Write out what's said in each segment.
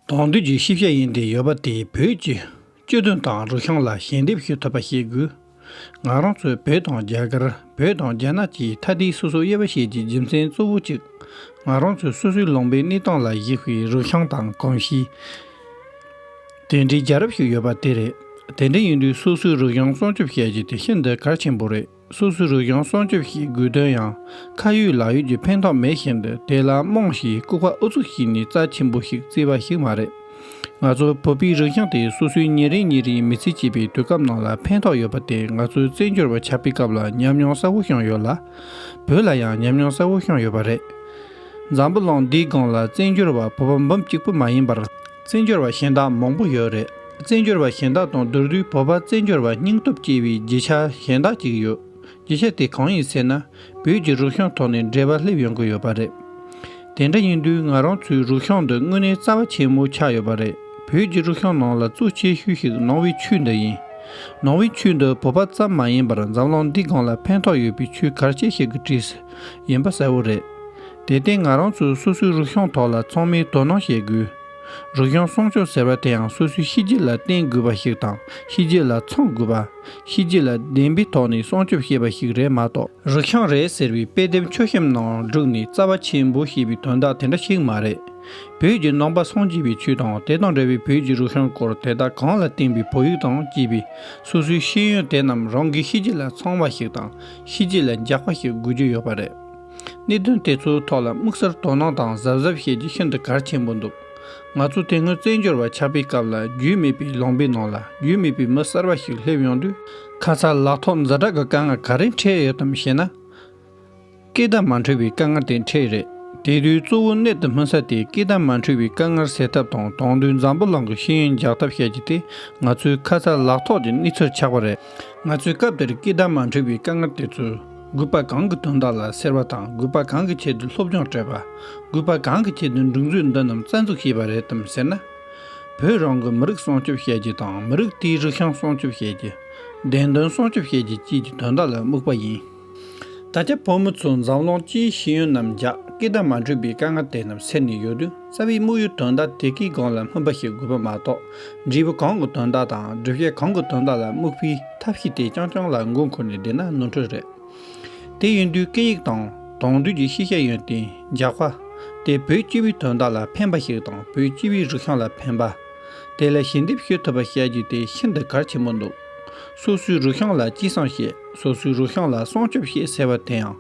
གདོང་དུས་ཀྱི་ཤེས་བྱ་ཡིན་ཏེ་ཡོད་པ་དེ་བོད་ཀྱི་སྤྱི་དོན་དང་རུ་ཤང་ལ་ཞལ་འདེབས་ཞུ་ཐུབ་པ་བྱེད་དགོས། ང་རང་ཚོས་བོད་དང་རྒྱ་གར་བོད་དང་རྒྱ་ནག་གི་མཐའ་དེ་སོ་སོའི་དབྱེ་བ་ཤེས་ཀྱི་རྒྱུ་མཚན་གཙོ་བོ་གཅིག་ང་རང་ཚོས་སོ་སོའི་ལུང་པའི་གནས་སྟངས་ལ་གཞིགས་པའི་རུ་ཤང་དང་གོམས་གཤིས། དེ་འདྲའི་རྒྱལ་རབས་ཤིག་ཡོད་པ་དེ་རེད། དེ་འདྲ་ཡིན་དུས་སོ་སོའི་རུ་ཤང་སྲུང་སྐྱོབ་བྱེད་རྒྱུ་དེ་ཤིན་ཏུ་གལ་ཆེན་པོ་རེད། སུ་སུ་རུ་ཡང་སྲོག་སྐྱོབས་ཤིག་དགོས་དོན་ཡང་ཁ་ཡོད་ལག་ཡོད་ཀྱི་ཕན་ཐོག་མེད་བཞིན་དུ་དེ་ལ་རྨོངས་ཞེས་ལྐུགས་པ་ཨུ་ཚུགས་ཤིག་ནི་རྩ་ཆེན་པོ་ཞིག་བརྩི་བ་ཞིག་མ་རེད། ང་ཚོ་བོད་པའི་རིག་གཞུང་དེ་སོ་སོའི་ཉིན་རེ་ཉིན་རེའི་མི་ཚེ་སྐྱེལ་པའི་དུས་སྐབས་ནང་ལ་ཕན་ཐོག་ཡོད་པ་དེ་ང་ཚོའི་བཙན་བྱོལ་བ་ཆགས་པའི་སྐབས་ལ་ཉམས་མྱོང་གསར་བོ་བཤངས་ཡོད་ལ། བོད་ལ་ཡང་ཉམས་མྱོང་གསར་བོ་བཤངས་ཡོད་པ་རེད། འཛམ་བུ་གླིང་འདིའི་སྒང་ལ་བཙན་བྱོལ་བ་བོད་པ་འབུམ་གཅིག་པུ་མ་ཡིན་པར། བཙན་བྱོལ་བ་གཞན་དག་མང་པོ་ཡོད་རེད་བཙན་བྱོལ་བ་གཞན་དག་དང་བསྡུར་དུས་བོད་པ་བཙན་བྱོལ་བ་སྙིང་སྟོབས་སྐྱེ་བའི་རྒྱུ་ཆ་གཞན་དག་ཅིག་ཡོད་རྒྱུ་ཆ་དེ་གང་ཡིན་ཟེར་ན་བོད་ཀྱི་རུག་ཤོང་ཐོག་ནས་འབྲེལ་བ་སླེབས་ཡོང་གི་ཡོད་པ་རེད་དེ་འདྲ་ཡིན་དུས་ང་རང་ཚོའི་རུག་ཤོང་འདི་དངོས་གནས་རྩ་བ་ཆེན་མོ་ཆགས་ཡོད་པ་རེད་བོད་ཀྱི་རུག་ཤོང་ནང་ལ་གཙོ་ཆེ་ཤོས་ཤིག་ནང་བའི་ཆོས་འདི་ཡིན་ནང་བའི་ཆོས་འདི་བོད་པ་ཙམ་མ་ཡིན་པར་འཛམ་གླིང་འདི་གང་ལ་ཕན་ཐོག་ཡོད་པའི་ཆོས་གར་ཆེ་ཤོས་ཀྱི་གྲས་ཡིན་པ་གསལ་བོ་རེད་དེ་སྟེང་ང་རང་ཚོས་སོ་སོའི་རུ་ཤོང་ཐོག་ལ་ཚང་མའི་དོ་སྣང་བྱེད་དགོས། རུ་ཤོང་སྲུང་སྐྱོབ་ཟེར་བ་དེའང་སོ་སོའི་གཤིས་རྒྱུད་ལ་བརྟེན་དགོས་པ་ཞིག་དང་གཤིས་རྒྱུད་ལ་འཚང་དགོས་པ། གཤིས་རྒྱུད་ལ་བདེན་པའི་ཐོག་ནས་སྲུང་སྐྱོབ་བྱེད་པ་ཞིག་རེད་མ་གཏོགས། རུ་ཤོང་རེད་ཟེར་བའི་དཔེ་དེབ་མཆོད་གཤམ་ནང་བསྒྲུགས་ནས་རྩ་བ་ཆེན་པོ་བྱེད་པའི་དོན་དག་དེ་འདྲ་ཞིག་མ་རེད། བོད་ཀྱི་ནང་པ་སངས་རྒྱས་པའི་ཆོས་དང་དེ་དང་འབྲེལ་བའི་བོད་ཀྱི་རུ་ཤོང་སྐོར་དེ་དག་གང་ལ་བརྟེན་པའི་བོད་ཡིག་དང་བཅས་པའི་སོ་སོའི་ཤེས་ཡོན་དེ་རྣམས་རང་གི་གཤིས་རྒྱུད་ལ་འཚང་བ་ཞིག་དང་གཤིས་རྒྱུད་ལ་འཇགས་པ་ཞིག་དགོས་ཀྱི་ཡོད་པ་རེད། གནད་དོན་དེ་ཚོའི་ཐོག་ལ་དམིགས་བསལ་དོ་སྣང་དང་གཟབ་གཟབ་བྱེད་རྒྱུ་ཤིན་ཏུ་གལ་ཆེན་པོ་འདུག་ང་ཚོ་དེ་སྔོན་བཙན་བྱོལ་བ་ཆགས་པའི་སྐབས་ལ་རྒྱུས་མེད་པའི་ལོང་པའི་ནང་ལ་རྒྱུས་མེད་པའི་མི་གསར་བ་ཞིག་སླེབས་ཡོང་དུས། ཁ་ཚར་ལག་ཐོག་འཛའ་དྲག་གི་དཀའ་ངལ་ག་རེ་འཕྲད་ཡོད་དམ་ཞེ་ན། སྐད་བརྡ་མ་འཕྲོད་པའི་དཀའ་ངལ་དེ་འཕྲད་རེད། དེ་དུས་གཙོ་བོ་གནད་དུ་སྨིན་ས་དེ་སྐད་བརྡ་མ་འཕྲོད་པའི་དཀའ་ངལ་སེལ་ཐབས་དང་དོང་དུད་འཛམ་བུ་གླིང་གི་ཤེས་ཡོན་རྒྱག་ཐབས་བཤད་རྒྱུ་དེ་ང་ཚོའི་ཁ་ཚར་ལག་ཐོག་གི་གནས་ཚུལ་ཆགས་པ་རེད། ང་ཚོས་སྐབས་དེར་སྐད་བརྡ་མ་འཕྲོད་པའི་དཀའ་ངལ་དེ་ཚོའི། རྒུད་པ་གང་གི་དོན་དག་ལ་སེར་བ་དང་རྒུད་པ་གང་གི་ཆེད་དུ་སློབ་སྦྱོང་སྤྲད་པ། རྒུད་པ་གང་གི་ཆེད་དུ་འབྲུ་མཛོད་འདི་རྣམས་རྩ་འཛུགས་བྱས་པ་རེད་དམ་ཟེར་ན། བོད་རང་གི་མི་རིགས་སྲུང་སྐྱོབ་བྱེད་རྒྱུ་དང་མི་རིགས་དེའི་རིག་གཞུང་སྲུང་སྐྱོབ་བྱེད་རྒྱུ། བདེན་དོན་སྲུང་སྐྱོབ་བྱེད་རྒྱུ་བཅས་ཀྱི་དོན་དག་ལ་དམིགས་པ་ཡིན། ད་ཆ་བོད་མི་ཚོས་འཛམ་གླིང་སྤྱིའི་ཤེས་ཡོན་རྣམས་རྒྱ་སྐད་དང་མ་འཕྲོད་པའི་དཀའ་ངལ་དེ་རྣམས་སེལ་ནས་ཡོད་དུས། རྩ་བའི་དམིགས་ཡུལ་དོན་དག་དེ་གའི་སྒང་ལ་སྨིན་པ་ཞིག་དགོས་པ་མ་གཏོགས། འབྲས་བུ་གང་གི་དོན་དག་དང་སྒྲུབ་བྱེད་གང་གི་དོན་དག་ལ་དམིགས་པའི་ཐབས་ཤེས་དེ་རྐྱང་རྐྱང་ལ་མགོ་འཁོར་ནས་བསྡད་ན་ནོར་འཁྲུལ་རེད། དེ་ཡིན་དུས་སྐད་ཡིག་དང་དོན་བསྡུས་ཀྱི་ཤེས་བྱ་ཡོན་ཏན་རྒྱག་པ། དེ་བོད་སྤྱི་བའི་དོན་དག་ལ་ཕན་པ་ཞིག་དང་བོད་སྤྱི་བའི་རིག་གཞུང་ལ་ཕན་པ། དེ་ལ་ཞལ་འདེབས་ཞུ་ཐུབ་པ་བྱ་རྒྱུ་དེ་ཤིན་ཏུ་གལ་ཆེན་པོ་འདུག། སོ་སོའི་རུ་ཤང་ལ་སྐྱིད་སྲང་ཞེས་སོ་སོའི་རུ་ཤང་ལ་སྲོང་སྐྱོབ་ཞེས་ཟེར་བ་དེའང་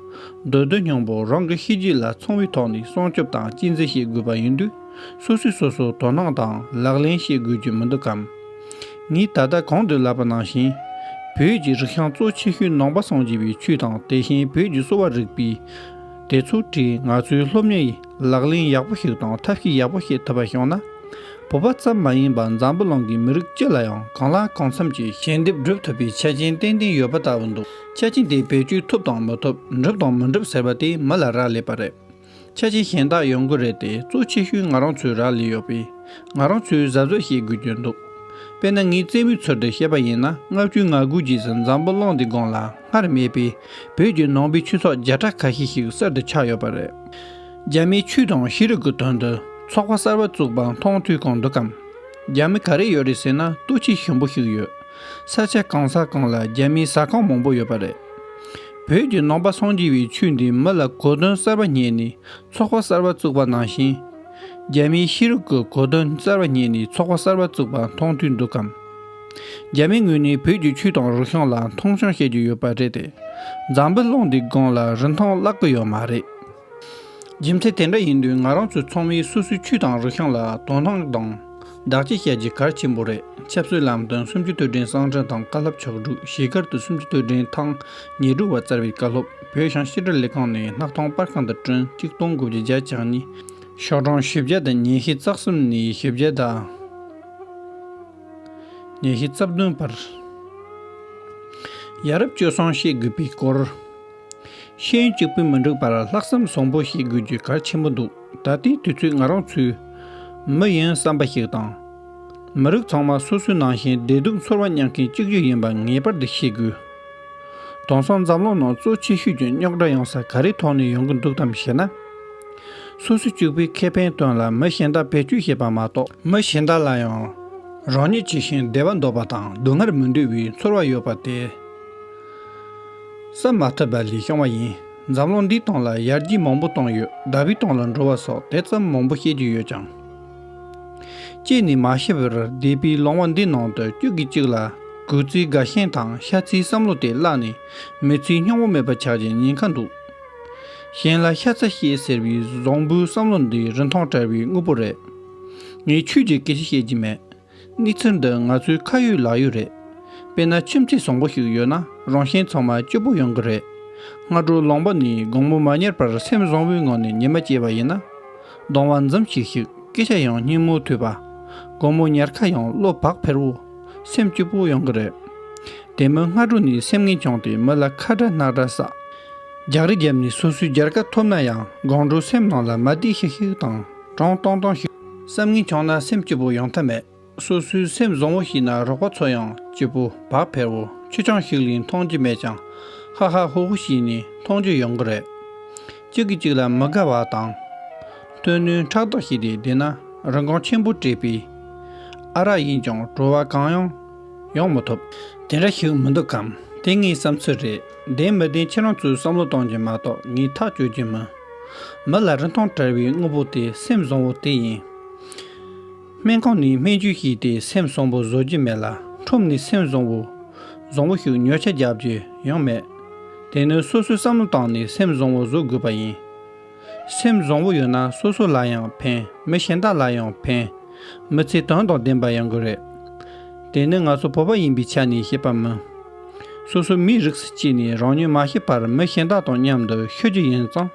འདོད་འདོད་སྙིང་པོ་རང་གི་ཤེས་རྒྱུད་ལ་མཚུངས་བའི་ཐོག་ནས་སྲོང་སྐྱོབ་དང་སྐྱིད་འཛིན་བྱེད་དགོས་པ་ཡིན་དུས་སོ་སོས་སོ་སོར་དོ་སྣང་དང་ལག་ལེན་བྱེད་དགོས་རྒྱུ་མི་འདུག་གམ། ངས་ད་ལྟ་གོང་དུ་ལབ་པ་ནང་བཞིན། བོད་ཀྱི་རུ་ཤང་གཙོ་ཆེ་ཤོས་ནང་པ་སངས་རྒྱས་པའི་ཆོས་དང་དེ་བཞིན་བོད་ཀྱི་གསོ་བ་རིག་པའི་དེ་ཚོ་བྲིས་ང་ཚོའི་སློབ་གཉེར་ཡི་ལག་ལེན་ཡག་པོ་ཞིག་དང་ཐབས་ཤེས་ཡག་པོ་བྱེད་ཐུབ་པ་བྱུང་ན། བོད་པ་ཙམ་མ་ཡིན་པར་འཛམ་བུ་གླིང་གི་མི་རིགས་སྤྱི་ལ་ཡང་གང་ལ་གང་འཚམ་གྱི་ཞལ་འདེབས་བསྒྲུབ་ཐུབ་པའི་ཆ་རྐྱེན་ཏན་ཏན་ཡོད་པ་ལྟ་བུ་འདུག་ཆ་རྐྱེན་དེ་བེད་སྤྱོད་ཐུབ་དང་མི་ཐུབ་འགྲུབ་དང་མི་འགྲུབ་ཟེར་བ་དེ་མི་ལ་རག་ལས་པ་རེད། ཆ་རྐྱེན་གཞན་དག་ཡོང་གི་རེད་དེ་གཙོ་ཆེ་ཤོས་ང་རང་ཚོའི་རག་ལས་ཡོད་པས་ང་རང་ཚོས་གཟབ་གཟབ་བྱེད་དགོས་ཀྱི་འདུག་དཔེར་ན་ངའི་རྩེད་མོའི་ཚུལ་དུ་བཤད་པ་ཡིན་ན་ལྔ་བཅུའི་ང་དགུའི་རྗེས་སུ་འཛམ་བུ་གླིང་འདི་སྒང་ལ། སྔར་མེད་པའི་བོད་ཀྱི་ནང་པའི་ཆོས་ཚོགས་བརྒྱ་ཕྲག་ཁ་ཤས་ཤིག་གསར་དུ་ཆགས་ཡོད་པ་རེད། རྒྱ་མིའི་ཆོས་དང་ཤེས་རིག་གི་དོན་དུ་ཚོགས་པ་གསར་བ་བཙུགས་པ་མཐོང་ཐོས་གང་འདུག་གམ། རྒྱ་མི་ག་རེ་ཡོད་རེད་ཟེར་ན་ལྟོས་ཆོས་ཞིམ་པོ་ཞིག་ཡོད། ས་ཆ་གང་ས་གང་ལ་རྒྱ་མིའི་ཟ་ཁང་མང་པོ་ཡོད་པ་རེད། བོད་ཀྱི་ནང་པ་སངས་རྒྱས་པའི་ཆོས་འདི་མི་ལ་གོ་དོན་གསར་བ་རྙེད་ནས་ཚོགས་པ་གསར་བ་བཙུགས་པ་ནང་བཞིན། རྒྱ་མིའི་ཤེས་རིག་གི་གོ་དོན་གསར་བ་རྙེད་ནས་ཚོགས་པ་གསར་བ་བཙུགས་པ་མཐོང་ཐོས་འདུག་གམ། རྒྱ་མིའི་ངོས་ནས་བོད་ཀྱི་ཆོས་དང་རིག་གཞུང་ལ་མཐོང་ཆུང་བྱེད་ཀྱི་ཡོད་པ་རེད་དེ། འཛམ་བུའི་ཀློང་འདིའི་སྒང་ལ་རིན་ཐང་བརླག་གི་ཡོད་མ་རེད། རྒྱུ་མཚན་དེ་འདྲ་ཡིན་དུས་ང་རང་ཚོའི་ཚོགས་མི་སོ་སོའི་ཆོས་དང་རིག་གཞུང་ལ་དོ་སྣང་དང། བདག་གཅེས་བྱ་རྒྱུ་གལ་ཆེན་པོ་རེད་ཆབ་སྲིད་ལམ་སྟོན་སུམ་ཅུ་དུས་དྲན་གསང་འཕྲིན་དང་བཀའ་སློབ་ཕྱག་དྲུག་གཞིས་སྒར་དུ་སུམ་ཅུ་དུས་དྲན་ཐང་ཉེར་དྲུག་བ་བསྩལ་བའི་བཀའ་སློབ་བོད་ཤང་ཤེས་དྲིལ་ལས་ཁང་ནས་སྣག་ཐང་དཔར་ཁང་དུ་བསྐྲུན་གཅིག་སྟོང་དགུ་བརྒྱ་བརྒྱ་ཆ་གཉིས། ཤོག་གྲངས་བཞི་བརྒྱ་དང་ཉེར་བཞི་རྩག་གསུམ་ནས་བཞི་བརྒྱ་དང། ཉིན་བཞི་རྩ་བདུན་བར། ཡ་རབས་སྤྱོད་བཟང་ཤེས་དགོས་པའི་སྐོར། ཤེས་ཡོན་གཅིག་པུས་མི་འགྲིག་པར་ལྷག་བསམ་བཟང་པོ་ཤེས་དགོས་རྒྱུ་གལ་ཆེན་པོ་འདུག་ད་ལྟའི་དུས་ཚོད་ང་རང་ཚོའི། མི་ཡིན་བསམ་པ་ཞིག་དང། མི་རིགས་ཚང་མ་སོ་སོའི་ནང་བཞིན་བདེ་སྡུག་འཚོར་བ་མྱངས་མཁན་གཅིག་གྱུར་ཡིན་པ་ངེས་པར་དུ་ཤེས་དགོས། དོང་སང་འཛམ་གློང་ནང་གཙོ་ཆེ་ཤོས་ཀྱི་རྙོག་དྲ་ཡོང་ས་ག་རེ་ཐོག་ནས་ཡོང་གི་འདུག་དམ་ཞེ་ན། སོ་སོ་གཅིག་པུའི་ཁེ་ཕན་དོན་ལ་མི་གཞན་དག་བེད་སྤྱོད་བྱེད་པ་མ་གཏོགས། མི་གཞན་དག་ལ་ཡང་རང་ཉིད་ཇི་བཞིན་བདེ་བ་འདོད་པ་དང་སྡུག་བསྔལ་མི་འདོད་པའི་ཚོར་བ་ཡོད་པ་དེ། བསམ་མ་ཐུབ་པ་ལས་བྱུང་བ་ཡིན། འཛམ་གློང་འདིའི་སྟེང་ལ་ཡར་རྒྱས་མང་པོ་བཏང་ཡོད་ཟླ་བའི་སྟེང་ལ་འགྲོ་བ་སོགས་དེ་ཙམ་མང་པོ་བཤད་རྒྱུ་ཡོད་ཀྱང། ཅེས་ནི་མ་ཤེས་པར་བཟླས་པའི་ལོང་བ་འདི་ནང་དུ་དཀྱུས་ཀྱི་གཅིག་ལ་གུས་བརྩིའི་དགའ་ཞེན་དང་ཤ་ཚིལ་བསམ་བློ་དེ་བརླག་ནས་མི་ཚེའི་སྙིང་བོ་མེད་པ་ཆགས་ཀྱི་ཉེན་ཁ་འདུག། གཞན་ལ་ཤ་ཚ་ཤེས་ཟེར་བའི་བཟང་བོའི་བསམ་བློ་འདི་རིན་ཐང་བྲལ་བའི་དངོས་པོ་རེད། ངས་ཆོས་ཀྱི་སྐད་ཆ་བཤད་ཀྱི་མེད། གནས་ཚུལ་འདི་ང་ཚོའི་ཁ་ཡོད་ལག་ཡོད་རེད། དཔེར་ན་ཁྱིམ་མཚེས་བཟང་པོ་ཞིག་ཡོད་ན་རང་གཞན་ཚང་མ་སྐྱིད་པོ་ཡོང་གི་རེད། སྔ་དྲོ་ལངས་པ་ནས་དགོང་མོ་མ་གཉེར་བར་སེམས་བཟང་བོའི་ངང་ནས་ཉི་མ་སྐྱེལ་བ་ཡིན་ན། སྡང་བ་འཛུམ་ཤིག་ཤིག་སྐད་ཆ་ཡང་སྙན་མོ་ཐོས་པ། དགོང་མོ་ཉལ་ཁ་ཡང་བློ་བག་ཕེར་བོ། སེམས་སྐྱིད་པོ་ཡོང་གི་རེད། དེ་མིན་སྔ་དྲོ་ནས་སེམས་ངན་བྱུང་སྟེ་མི་ལ་ཁ་བྲལ་རྣག་བྲལ་བསགས། རྒྱག་རེ་བརྒྱབ་ནས་སོ་སོའི་སྦྱར་ཀ་ཐོབ་ན་ཡང་དགོང་དྲོ་སེམས་ནང་ལ་མ་བདེ་ཤིག་ཤིག་དང་གྲང་ཏང་ཏང་ཞིག། བསམ་ངན་འཁྱོངས་ན་སེམས་སྐྱིད་པོ་ཡོང་ཐབས་མེད། སོ་སོའི་སེམས་བཟང་བོ་ཞིག་ན་རོགས་པ་ཚོ་ཡང་སྐྱིད་པོ་བག་ཕེར་བོ་ཆུ་ཆང་ཞིག་ལས་མཐོང་རྒྱུ་མེད་ཅིང་ཧ་ཧ་ཧོ་ཧོ་ཞིག་ནས་མཐོང་རྒྱུ་ཡོང་གི་རེད། གཅིག་གིས་གཅིག་ལ་མི་དགའ་བ་དང། དོན་སྣོད་ཕྲག་དོག་བྱས་ཏེ་བསྡད་ན་རིན་གོང་ཆེན་པོ་སྤྲད་པས་ཨ་རག་ཡིན་ཀྱང་བྲོ་བ་གང་ཡང་ཡོང་མ་ཐུབ། དེ་འདྲ་ཞིག་མི་འདུག་གམ་དེ་ངའི་བསམ་ཚུལ་རེད། བདེན་མི་བདེན་ཁྱེད་རང་ཚོས་བསམ་བློ་གཏོང་རྒྱུ་མ་གཏོགས་ངས་ཐག་གཅོད་རྒྱུ་མིན། མི་ལ་རིན་ཐང་བྲལ་བའི་དངོས་པོ་དེ་སེམས་བཟང་བོ་དེ་ཡིན། སྨན་ཁང་ནས་སྨན་བཅོས་བྱས་ཏེ་སེམས་བཟང་བོ་བཟོ་རྒྱུ་མེད་ལ་ཁྲོམ་ནས་སེམས་བཟང་བོ། བཟང་བོ་ཞིག་ཉོ་ཆ་རྒྱག་རྒྱུ་ཡང་མེད། དེ་ནི་སོ་སོས་བསམ་བློ་བཏང་ནས་སེམས་བཟང་བོ་བཟོ་དགོས་པ་ཡིན། སེམས་བཟང་བོ་ཡོད་ན་སོ་སོ་ལ་ཡང་ཕན་མི་གཞན་དག་ལ་ཡང་ཕན། མི་ཚེ་དོན་དང་ལྡན་པ་ཡོང་གི་རེད། དེ་ནི་ང་ཚོ་བོད་པ་ཡིན་པའི་ཆ་ནས་བཤད་པ་མིན། སོ་སོའི་མིའི་རིགས་སུ་སྐྱེས་ནས་རང་ཉིད་མ་ཤི་བར་མི་གཞན་དག་དང་མཉམ་དུ་ཤི་རྒྱུ་ཡིན་ཙང།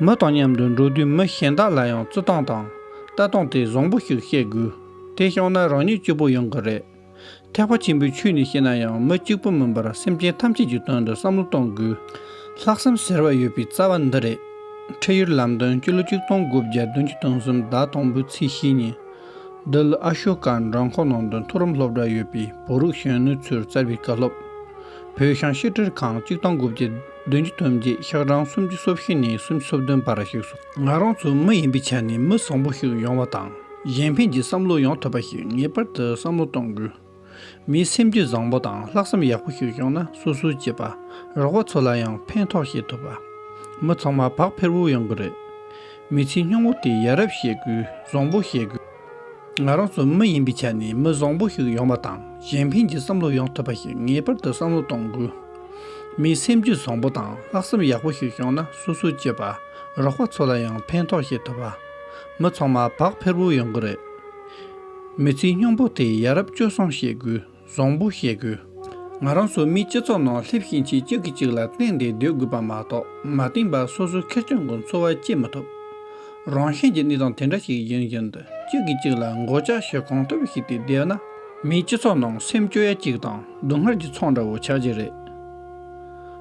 མི་དང་མཉམ་དུ་འགྲོ་དུས་མི་གཞན་དག་ལ་ཡང་བརྩི་སྟངས་དང་ལྟ་སྟངས་དེ་བཟང་བོ་ཞིག་བཤད་དགོས་དེ་བྱུང་ན་རང་ཉིད་སྐྱིད་པོ་ཡོང་གི་རེད། ཐེག་པ་ཆེན་པོའི་ཆོས་ནི་ཤེས་ན་ཡང་མི་གཅིག་པུ་མིན་པར་སེམས་ཅན་ཐམས་ཅད་ཀྱི་དོན་དུ་བསམ་བློ་གཏོང་དགོས། ལྷག་བསམ་ཟེར་བ་ཡོད་པའི་རྩ་བ་འདི་རེད། ཁྲིད་ཡུལ་ལམ་སྟོན་སྤྱི་ལོ་ཆིག་སྟོང་དགུ་བརྒྱ་བདུན་ཅུ་དང་གསུམ་ཟླ་དང་པོའི་ཚེས་བཞི་ཉིན། འདི་ལོ་ཨ་ཤོ་ཀ་འགྲམ་ཁོག་ནང་དུ་མཐོ་རིམ་སློབ་གྲྭ་ཡོད་པའི་བོད་རིགས་གཞོན་ནུ་ཚོས་བསྩལ་བའི་བཀའ་སློབ། བོད་ཤང་ཤེས་དྲིལ་ཁང་གཅིག་དང་དགུ་བརྒྱ། བདུན་གྱི་ཐུན་གྱི་ཤག་གྲངས་སུམ་ཅུ་སོ་བཞི་ནས་སུམ་ཅུ་སོ་བདུན་བར་བཞུགས་སོ། ང་རང་ཚོ་མི་ཡིན་པའི་ཆ་ནས་མི་བཟང་པོ་ཞིག་ཡོང་བ་དང་གཞན་ཕན་གྱི་བསམ་བློ་ཡོང་ཐུབ་པ་ཞིག་ངེས་པར་དུ་བསམ་བློ་གཏོང་དགོས། མིའི་སེམས་རྒྱུད་བཟང་པོ་དང་ལྷག་བསམ་ཡག་པོ་ཞིག་བྱུང་ན་སོ་སོའི་གཅེས་པ་རོགས་པ་ཚོ་ལ་ཡང་ཕན་ཐོགས་ཤེས་ཐུབ་པ། མི་ཚང་མ་བག་ཕེར་བོ་ཡོང་གི་རེད། མི་ཚེ་སྙུང་བོ་དེ་ཡ་རབས་བཤད་དགོས་བཟང་པོ་བཤད་དགོས། ང་རང་ཚོ་མི་ཡིན་པའི་ཆ་ནས་མི་བཟང་པོ་ཞིག་ཡོང་བ་དང་གཞན་ཕན་གྱི་བསམ་བློ་ཡོང་ཐུབ་པ་ཞིག་ངེས་པར་དུ་བསམ་བློ་གཏོང་དགོས། མིའི་སེམས་རྒྱུད་བཟང་པོ་དང་ལྷག་བསམ་ཡག་པོ་ཞིག་བྱུང་ན་སོ་སོའི་གཅེས་པ་རོགས་པ་ཚོ་ལ་ཡང་ཕན་ཐོགས་བྱེད་ཐུབ། མི་ཚང་མ་བག་ཕེར་བོ་ཡོང་གི་རེད། མི་ཚེའི་སྙིང་པོ་དེ་ཡ་རབས་སྤྱོད་བཟང་ཤེས་དགོས། བཟང་པོ་བཤད་དགོས། ང་རང་ཚོ་མིའི་སྤྱི་ཚོགས་ནང་སླེབས་ཤིང་གཅིག་གཅིག་གིས་གཅིག་ལ་བརྟེན་ཏེ་སྡོད་དགོས་པ་མ་གཏོགས་མ་བརྟེན་པར་སོ་སོ་ཁེར་རྐྱང་གི་འཚོ་བ་སྐྱེལ་མི་ཐུབ། རང་གཞན་གྱི་གནས་སྟངས་དེ་འདྲ་ཞིག་ཡིན་བཞིན་དུ་གཅིག་གིས་གཅིག་ལ་མགོ་བཅག་བྱེད་གང་ཐུབ་བྱས་ཏེ་བསྡད་ན། མིའི་སྤྱི་ཚོགས་ནང་སེམས་སྐྱོ་ཡ་གཅིག་དང་སྡུག་བསྔལ་གྱི་ཚོགས་འདྲ་བོ་ཆགས་ཀྱི་རེད།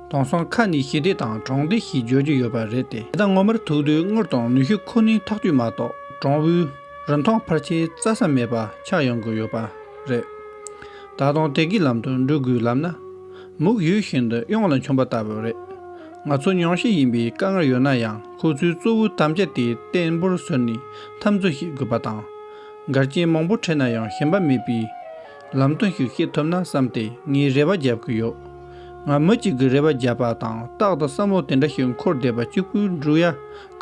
དེང་སང་ཁ་ནས་ཞི་བདེ་དང་དྲང་བདེན་ཞེས་བརྗོད་ཀྱི་ཡོད་པ་རེད་དེ། དེ་དག་ངོ་མར་ཐུག་དུས་དངུལ་དང་ནུས་ཤུགས་ཁོ་ནའི་ཐག་གཅོད་མ་གཏོགས་དྲང་བོའི། རིན་ཐང་ཕར་ཆེར་རྩ་ས་མེད་པ་ཆགས་ཡོང་གི་ཡོད་པ་རེད། ད་དུང་དེ་གི་ལམ་དུ་འགྲོ་དགོས་ལབ་ན། མུག་ཡུལ་བཞིན་དུ་གཡང་ལ་འཁྱོམ་པ་ལྟ་བུ་རེད། ང་ཚོ་ཉུང་ཤས་ཡིན་པའི་དཀའ་ངལ་ཡོད་ན་ཡང་ཁོ་ཚོའི་གཙོ་བོའི་དམ་བཅའ་དེ་བརྟན་པོར་བཟོས་ནས་འཐབ་འཛོ་ཞིག་དགོས་པ་དང། འགལ་རྐྱེན་མང་པོ་འཕྲད་ན་ཡང་ཞེན་པ་མེད་པའི་ལམ་སྟོན་ཞིག་བཤད་ཐུབ་ན་བསམ་སྟེ་ངས་རེ་བ་རྒྱབ་ཀི་ཡོད། ང་མི་གཅིག་གི་རེ་བ་རྒྱབ་པ་དང་རྟག་ཏུ་བསམ་བློ་དེ་འདྲ་ཞིག་འཁོར་བསྡད་པ་གཅིག་པུའི་འབྲུག་ཡ་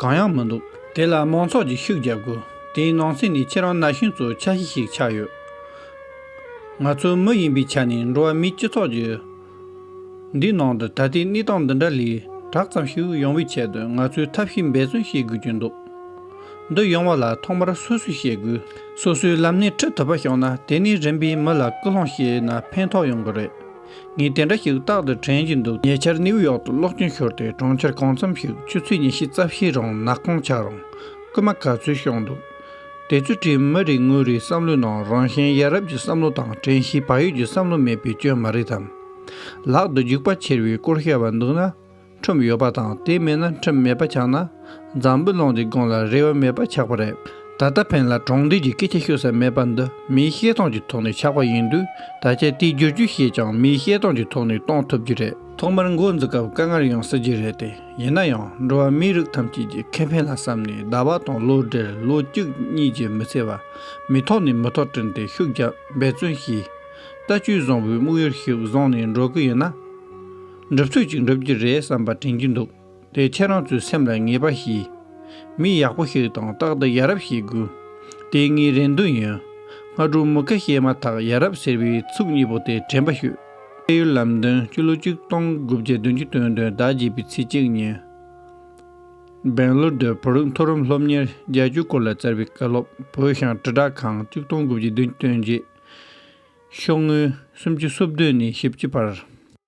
གང་ཡང་མི་འདུག་དེ་ལ་མང་ཚོགས་ཀྱིས་ཤུགས་རྒྱག་དགོས། དེའི་ནང་ཚན་ནི་ཁྱེད་རང་ན་གཞོན་ཚོའི་འཆར་གཞི་ཞིག་ཆགས་ཡོད། ང་ཚོའི་མི་ཡིན་པའི་ཆ་ནས་འགྲོ་བ་མིའི་སྤྱི་ཚོགས་ཀྱི། འདིའི་ནང་དུ་ད་ལྟའི་གནས་སྟངས་འདི་འདྲ་ལས་དྲག་ཙམ་ཞིག་ཡོང་བའི་ཆེད་དུ་ང་ཚོས་ཐབས་ཤེས་འབད་བརྩོན་བྱེད་དགོས་ཀྱི་འདུག་འདི་ཡོང་བ་ལ་ཐོག་མར་སོ་སོས་བྱེད་དགོས། སོ་སོའི་ལམ་སྣེ་ཁྲིད་ཐུབ་པ་ཤོང་ན་དེ་ནས་རིམ་པས་མི་ལ་སྐུལ་སློང་བྱས་ན་ཕན་ཐོགས་ཡོང་གི་རེད། ངས་དེ་འདྲ་ཞིག་རྟག་ཏུ་དྲན་བཞིན་འདུག་ཉེ་ཆར་ནེའུ་ཡོག་ཏུ་གློག་སྐྱོན་ཤོར་ཏེ་གྲོང་ཁྱེར་གང་འཚམ་ཞིག་ཆུ་ཚོད་ཉེར་བཞི་རྩ་བཞིའི་རིང་ནག་ཁུང་ཆགས་རུང་རྐུན་མ་ག་ཚོད་ཤོར་འདུག་དེ་ཚོའི་གྲིབ་མ་རིག་དངོས་རིག་བསམ་བློའི་ནང་རང་གཞན་ཡ་རབས་ཀྱི་བསམ་བློ་དང་དྲན་ཤེས་བག་ཡོད་ཀྱི་བསམ་བློ་མེད་པའི་སྐྱོན་མ་རེད་དམ། ལག་ཏུ་རྒྱུག་པ་འཁྱེར་བའི་སྐོར་བཤད་པ་འདུག་ན། ཁྲོམ་ཡོད་པ་དང་དེ་མེད་ན་ཁྲོམ་མེད་པ་ཆགས་ན། འཛམ་བུ་གླིང་འདི་དགོངས་ལ་རེ་བ་མེད་པ་ཆགས་པ་རེད། ད་ལྟ་བོན་ལ་གྲོང་སྡེ་གྱི་སྐད་ཆ་ཤོད་ས་མེད་པ་འདི་མིའི་ཤེས་སྟངས་ཀྱི་ཐོག་ནས་ཆགས་པ་ཡིན་དུས་ད་ཆ་དེའི་བསྒྱུར་བཅོས་བྱས་ཀྱང་མིའི་ཤེས་སྟངས་ཀྱི་ཐོག་ནས་གཏོང་ཐུབ་ཀྱི་རེད། ཐོག་མར་མགོ་འཛུགས་སྐབས་དཀའ་ངར་ཡོང་སྲིད་ཀྱི་རེད་དེ་ཡིན་ན་ཡང་འགྲོ་བ་མིའི་རིགས་ཐམས་ཅད་ཀྱི་ཁེ་ཕན་ལ་བསམ་ནས་ཟླ་བ་དང་ལོ་འབྲེལ་ལོ་གཅིག་གཉིས་ཀྱི་མི་ཚེ་བ་མི་ཐོག་ནས་མི་ཐོག་བཀྲིན་ཏེ་ཤུགས་རྒྱབ་འབད་བརྩོན་བྱས། རྟ་བཅོས་བཟང་བོའི་དམིགས་ཡུལ་ཞིག་བཟུང་ནས་འགྲོ་གི་ཡིན་ན། འགྲུབ་ཚོད་ཅིག་འགྲུབ་ཀྱི་རེད་བསམ་པ་དྲན་གྱི་འདུག་དེ་ཁྱེད་རང་ཚོའི་སེམས་ལ་ངེས་པ་ཞིག། མི་ཡག་པོ་ཞིག་དང་རྟག་ཏུ་ཡ་རབས་ཞིག་དགོས། དེ་ངའི་རེ་འདུན་ཡིན། སྔ་དྲོ་མུ་གེ་བཤད་མ་ཐག་ཡ་རབས་ཟེར་བའི་ཚུགས་གཉིས་པོ་དེ་དྲན་པ་ཞུ། བལ་ཡུལ་ལམ་སྟོན་སྤྱི་ལོ་ཆིག་སྟོང་དགུ་བརྒྱ་བདུན་ཅུ་དོན་དོན་ཟླ་བརྒྱད་པའི་ཚེས་གཅིག་ཉིན། སྦེང་ལོར་སྡོད་བོད་རིགས་མཐོ་རིམ་སློབ་གཉེར་རྒྱལ་སྤྱིའི་སྐོར་ལ་བསྩལ་བའི་བཀའ་སློབ་བོད་ཞང་དྲིལ་བསྒྲགས་ཁང་ཆིག་སྟོང་དགུ་བརྒྱ་བདུན་ཅུ་དོན་བརྒྱད། ཤོག་ངོས་སུམ་ཅུ་སོ་བདུན་ནས་བཞི་བཅུ་བར།